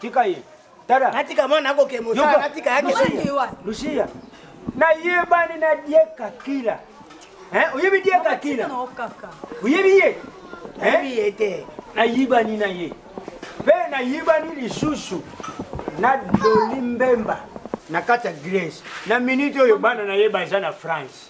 Tika ye. Tala. Natika mwana yako ke mosala natika yake. Lucia. Na yebani na dieka kila. Hein? Oyebi dieka kila. Oyebi ye? Oyebi ye te. Na yibani na ye. Pe na yibani lisusu na Doli Mbemba na kati ya Grèce. Na minute oyo bana na ye baza na France.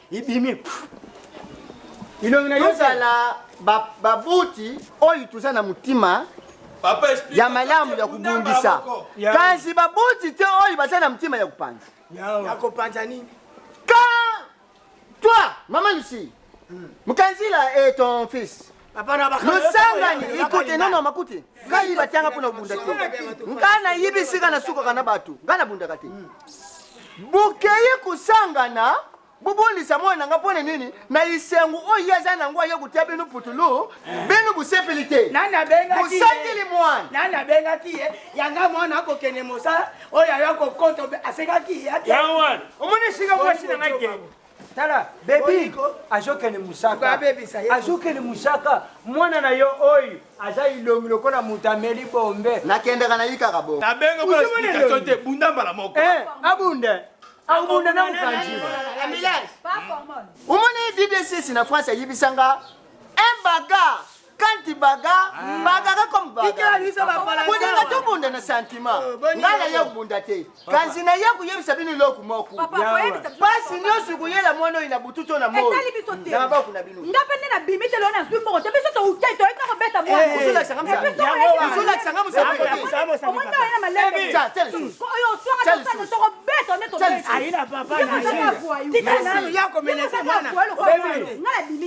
ibimi ilongi na yozala babuti oyo toza na motima ya malamu ya kobundisa kasi babuti te oyo baza na motima ya kopanza ya kopanza nini ka toi mama lucie hmm. mokanzila et ton fils losangani ikute nono makuti ngai batianga mpo na kobunda te ngai nayibi esika nasukaka na bato ngai nabundaka te bokei kosangana bobondisa mwana na ngai mpo na nini na lisengo oyo ye aza na yango aye kotia bino putulu bino bosepeli te bosakeli mwana nani abengaki ye yanga mwana akokende mosala oyo ayo akokota asekaki ye omoni esika mwasi na ngai kende tala bebi azokende mosaka azokende mosaka mwana na yo oyo aza ilongi lokola moto ameli bombe nakendaka na yikaka bo nabenga mpo explication te bunda mbala moko eh, abunde akobunda na mokanzi omoni ddcs na france ayibisanga un bagarre kanti baga mbaga ka comme baga kuninga tobunda na sentiment oh, ngai naya kobunda te kasi naya koyebisa bino eloko moko mpasi nyonso koyela mwana oyo na butu to na moyna baku na bino nga mpe nde nabimi te lona nazwi mbongo te biso toutei toyeka kobeta mwanazolakisanga mosalaoyotokobeta nde tobeta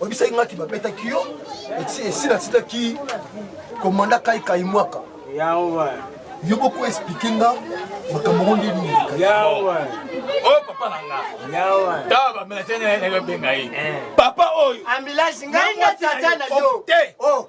oyebisaki ngaki babetaki yo esila asilaki komanda kai kai mwaka yo boko explike nga makambo ngo nde nini oyo oh, papa na nga tawa bamela tene nayobenga ye eh. papa oyo ambulance ngai na tata na yo oh, te oh.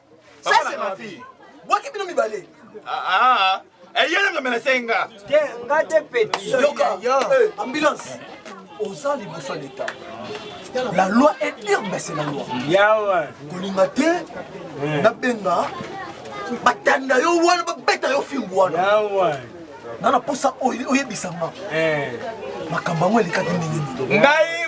Ça c'est ma fille. Boki bino mibale. Ah ah. Eyele eh, ngamela senga. Te nga te petit. Yoka. Eh. Ambulance. Oza liboso leta. La loi est pire, mais c'est la loi. Yawa. Kolinga te. Eh. Na benga. Batanda yo wana babeta yo fimbu wana. Yawa. Nana posa oyebisanga. Eh. Makambo yango elekaki ndenge nini? Ngai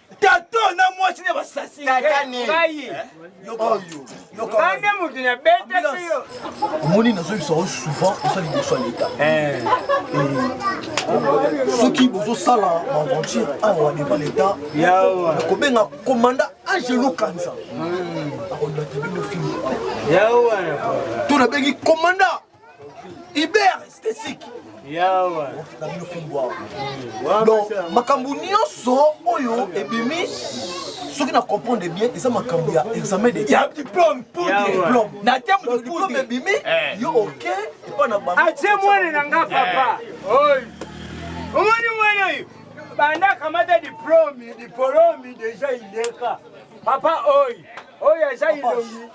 tato na mwasi na basasi tata ne ngai eh? oyo bande moto na betaka yo omoni nazoyebisa yo souvent oza liboso ya leta eh. eh. soki bozosala baaventure awa devant leta nakobenga commanda angelo kanza hmm. akolibata bino fimi to nabengi commanda Iber esthétique yawa na bino fimbu awa mm. donc makambo nyonso oyo ebimi soki na comprendre bien eza makambo ya examen de ya diplôme pour diplôme na terme de diplôme ebimi eh. yo ok epa na bango atie ah, mwana na nga papa eh. oyo omoni mwana oyo banda akamata diplôme diplôme deja ileka papa oyo oyo aza ilongi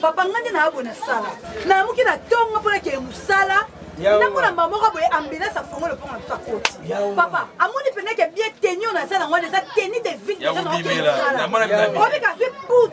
papa ngai nde naya boye nasala nayamuki na ntongo mpo nakeye mosala ndako na mbaa moko boye ambulance afongo lopongo na biso akoti papa amoni mpenza ke bien teni oyo naza nango wana eza teni de ville obika azwi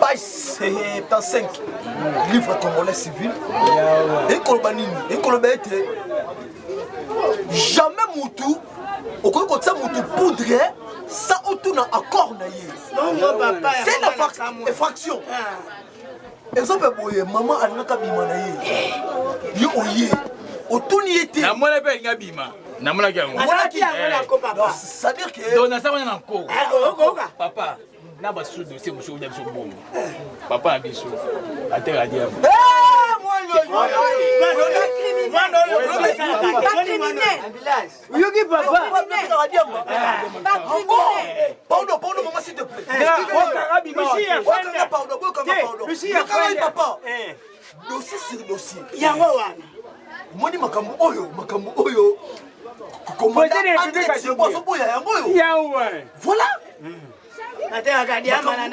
page 75 livre congolais civil ekoloba nini ekoloba ete jamais mutu okoki kotia mutu poudre sa otuna accord na ye c'est la fraction exemple ah. boye mama alingaka bima na ye yo oye otuni ye te namona mpe alingi abima namonaki yango c'est-à-dire que donc naza wana na nko papa na basusu dosie mosusu na biso bongo papa na biso ateka diabo oyoki papa dossier sur dossier yango wana omoni makambo oyo makambo oyo komandazoboya yango oyo voilà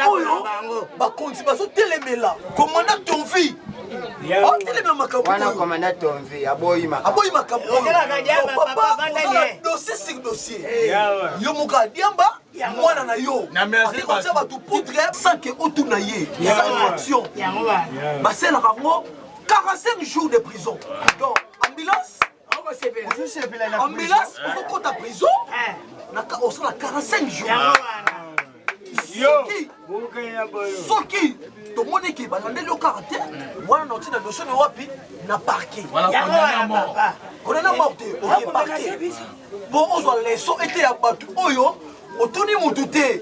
oyo bakonzi bazotelemela komanda ton vie otelemela makambo aboyi makambo oyo dossier sur dossier yo moko adiamba ya mwana na yo ake kotya bato poutre sans ke otuna ye eza infraction baselaka yango 45 jours de prison donc ambulance ambulance okokota prison osala 45 jours soki tomoni eke balandeli yo kaka te wana na otina dosie na wapi na parke konana mor te oye parke mpo ozwa leso ete ya bato oyo otuni motu te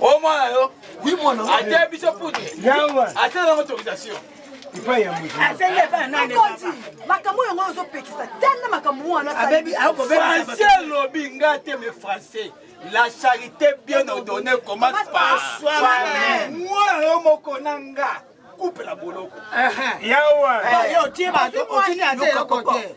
o mwana yo ate biso pute ate nango autorisation makambo yango ozopekisa tala makambo wana français alobi nga te me français la charité bien ordonnée commence par soi-même mwana yo moko na nga coupe la boloko yawa otie bato otini ate eloko te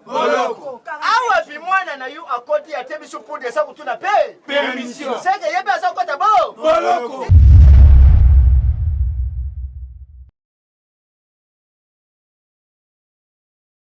boloko awa bi mwana na yo akoti ate biso podi eza kotuna mpe permission seke ye mpe aza kokota bo boloko